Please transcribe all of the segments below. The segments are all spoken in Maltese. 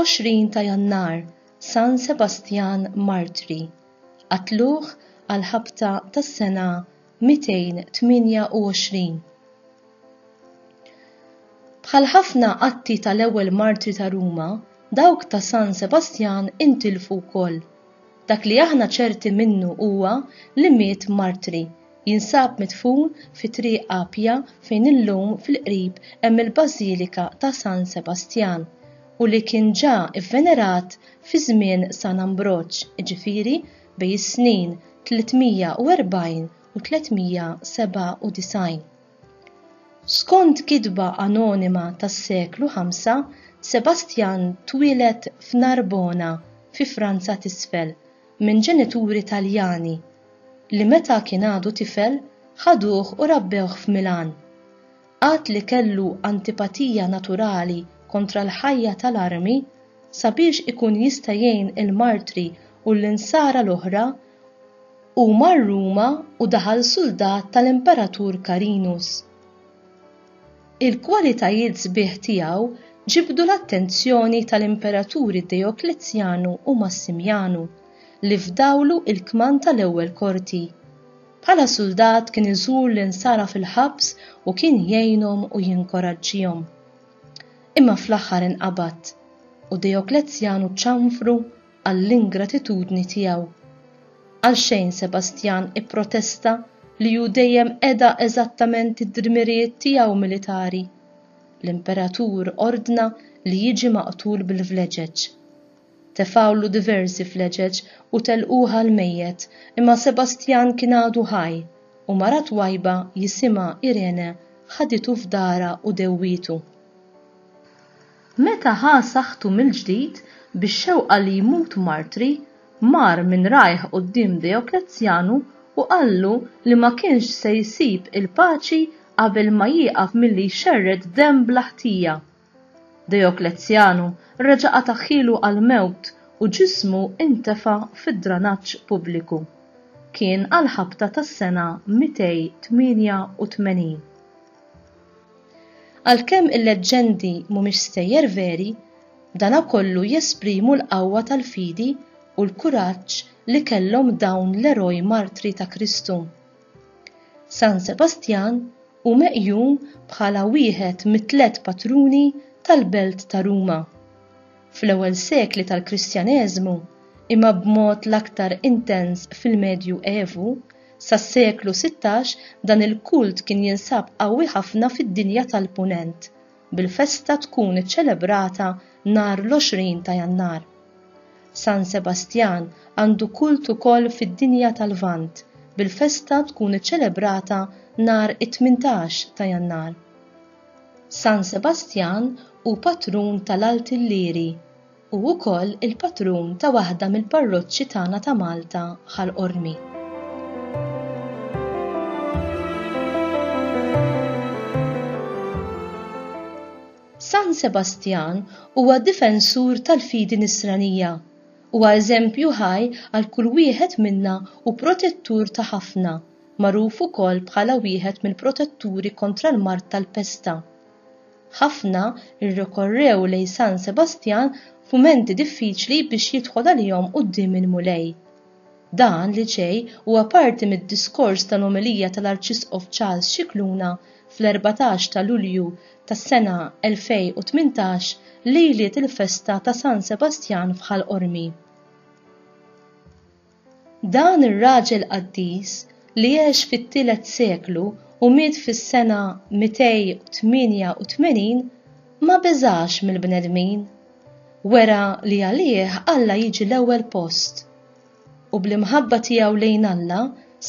20 ta' Jannar, San Sebastjan Martri, qatluh għal ħabta tas-sena 228. Bħal ħafna atti tal-ewwel martri ta' Ruma, dawk ta' San Sebastjan intilfu wkoll. Dak li aħna ċerti minnu huwa li miet martri, jinsab midfun fi Triq Appia fejn illum fil-qrib hemm il-Bażilika ta' San Sebastjan, u li kien ġa vvenerat fi żmien San Ambroġ, jiġifieri bejn is-snin 340 u 397. Skont kitba anonima tas-seklu 5, Sebastjan twieled f'Narbona fi Franza t'Isfel minn ġenituri Taljani li meta kien għadu tifel ħaduh u rabbewh f'Milan. Għad li kellu antipatija naturali kontra l-ħajja tal-armi, sabiex ikun jista' jgħin il-martri u l-insara l-oħra, hu mar Ruma u daħal suldat tal-Imperatur Carinus. Il-kwalitajiet sbieħ tiegħu ġibdu l-attenzjoni tal-imperaturi Dejoklezjanu u Massimjanu, li fdawlu l-kmand tal-ewwel korti. Bħala suldat kien iżur l-Insara fil-ħabs u kien jgħinhom u jinkoraġġihom. Imma fl-aħħar inqabad u Dejoklezzjanu ċanfru għall-ingratitudni tiegħu. Għalxejn Sebastjan ipprotesta li hu dejjem qeda eżattament id-dmirijiet tiegħu militari. L-Imperatur ordna li jiġi maqtul bil-vleġeġ. Tefgħulu diversi fleġeġ u telquh għall-mejjet, imma Sebastjan kien għadu ħaj, u mara twajba jisimha Irene ħaditu f'darha u dewwietu. Meta ħa saħħtu mill-ġdid, bix-xewqa li jmut martri, mar minn rajh quddiem Deoklezzjanu u qallu li ma kienx se jsib il-paċi qabel ma jieqaf milli jxerred demm bla ħtija. Deoklezzjanu reġa' qatagħhielu għall-mewt u ġismu ntefa' fid-dranaġġ pubbliku. Kien għall-ħabta tas-sena 288. Għalkemm il-leġġendi mhumiex stejjer veri, dana kollu jesprimu l-qawwa tal-fidi u l-kuraġġ li kellhom dawn l-eroj martri ta' Kristu. San Sebastjan hu meqjum bħala wieħed mit-tliet patruni tal-belt ta' Ruma. Fl-ewwel sekli tal-Kristjaneżmu, imma b'mod l-aktar intens fil-Medju Evu, sas-seklu sittax dan il-kult kien jinsab qawwi ħafna fid-dinja tal-Punent, bil-festa tkun iċċelebrata nhar l-20 ta' Jannar. San Sebastjan għandu kult ukoll fid-dinja tal-Lvant bil-festa tkun iċċelebrata nhar it-18 ta' Jannar. San Sebastjan hu patrun tal-Alt Illyri. Hu wkoll il-patrun ta' waħda mill-parroċċi tagħna ta' Malta, Ħal Qormi. San Sebastjan huwa difensur tal-fidi nisranija. Huwa eżempju ħaj għal kull wieħed minna u protettur ta' ħafna, magħruf ukoll bħala wieħed mill-protetturi kontra l-mard tal-pesta. Ħafna rrikorrew lejn San Sebastjan f'mumenti diffiċli biex jidħol għalihom quddiem il-Mulej. Dan li ġej huwa parti mid-diskors tal-omelija tal-Arċisqof Charles Scicluna fl-erbatax ta' Lulju tas-sena 2018 lejliet il-festa ta' San Sebastjan f'Ħal Qormi. Dan ir-raġel qaddis li għex fit-tielet seklu u miet fis-sena 288 ma beżax mill-bnedmin. Wera li għalih Alla jiġi l-ewwel post. U bl-imħabba tiegħu lejn Alla,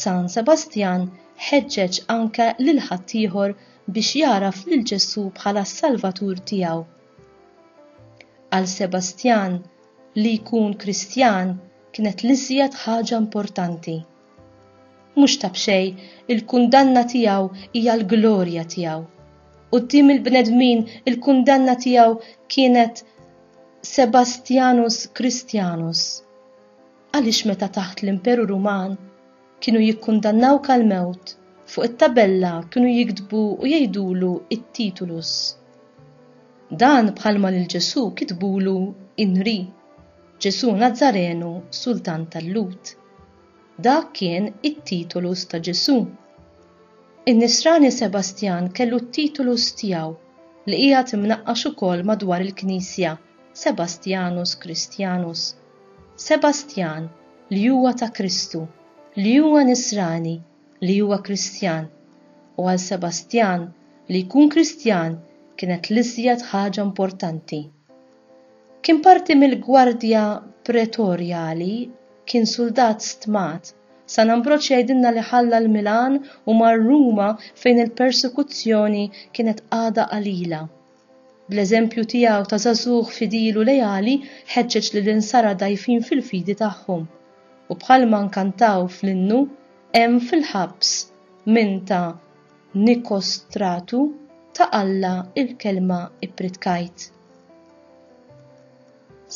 San Sebastjan ħeġġeġ anke lil ħaddieħor biex jagħraf lil Ġesù bħala s-Salvatur tiegħu. Għal Sebastjan, li jkun Kristjan kienet l-iżjed ħaġa importanti. Mhux ta' b'xejn il-kundanna tiegħu hija l-glorja tiegħu. Quddiem il-bnedmin il-kundanna tiegħu kienet Sebastianus Christianus. Għaliex meta taħt l-Imperu Ruman Kienu jikkundannawh għall-mewt. Fuq it-tabella kienu jiktbu u jgħidulu t-titulus. Dan bħalma lil Ġesù kitbulu in re, Ġesù Nazzarenu Sultan tal-Lhud. Dak kien it-titulus ta' Ġesù. In-Nisrani Sebastjan kellu t-titulus tiegħu li qiegħed imnaqqax ukoll madwar il-Knisja, Sebastianus Christianus. Sebastjan, li huwa ta' Kristu, li huwa Nisrani, li huwa Kristjan. U għal Sebastjan, li jkun Kristjan kienet l-iżjed ħaġa importanti. Kien parti mill-gwardja pretorjali, kien suldat stmat. San Ambroġ jgħidilna li ħalla l-Milan u mar Ruma fejn il-persekuzzjoni kienet għadha qalila. Bl-eżempju tiegħu ta' żagħżugħ fidil u leali ħeġġeġ lill-insara dgħajfin fil-fidi tagħhom. U bħalma nkantaw fl-innu, hemm fil-ħabs min ta' Nikostratu ta' Alla l-kelma ippritkajt.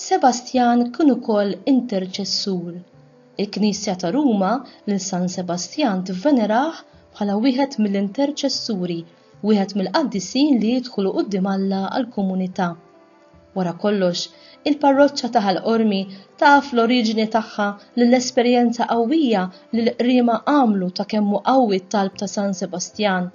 Sebastjan kien ukoll interċessur. Il-Knisja ta' Ruma lil San Sebastjan tivvenerah bħala wieħed mill-interċessuri wieħed mill-qaddisin li jidħlu quddiem Alla għall-komunità. Wara kollox, il-parroċċa ta' Ħal Qormi taf l-oriġini tagħha lill-esperjenza qawwija li l-Qriema għamlu ta' kemm hu qawwi t-talb ta' San Sebastjan,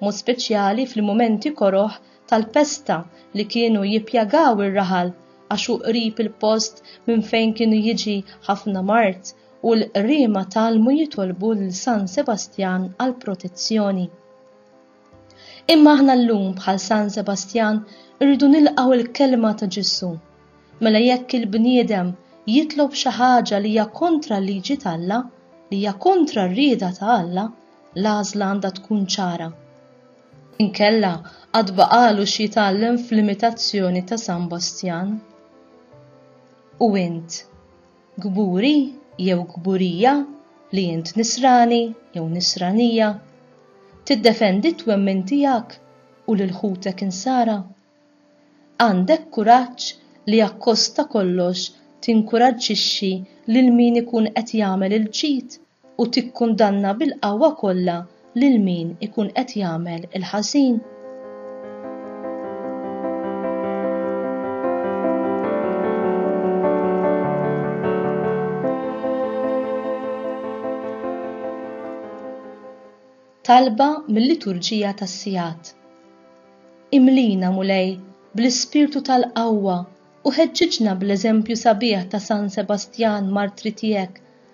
mod speċjali fil-mumenti koroh tal-pesta li kienu jippjagaw ir-raħal għax hu qrib il-post minn fejn kienu jiġi ħafna mard u l-Qriema tgħallmu jitolbu lil San Sebastjan għall-protezzjoni. Imma aħna llum bħal San Sebastjan irridu nilqgħu l-kelma ta' Ġesù. Mela jekk il-bniedem jitlob xi ħaġa li hija kontra l-liġi t'Alla, li hija kontra r-rieda ta' Alla, l-għażla għandha tkun ċara. Inkella għad baqalu xi jitgħallem fl-imitazzjoni ta' San Bastjan. U int? Kburi jew kburija li int Nisrani jew Nisranija? Tiddefendi t-twemmin tiegħek u lil ħutek Insara? Għandek kuraġġ li akkost ta' kollox tinkuraġġixxi lil min ikun qed jagħmel il-ġid u tikkundanna bil-qawwa kollha lil min ikun qed jagħmel il-ħażin. Talba mil-Liturġija tas-Sigħat. Imlina, Mulej, bl-ispirtu tal-qawwa u ħeġġiġna bl-eżempju sabiħ ta' San Sebastjan martri tiegħek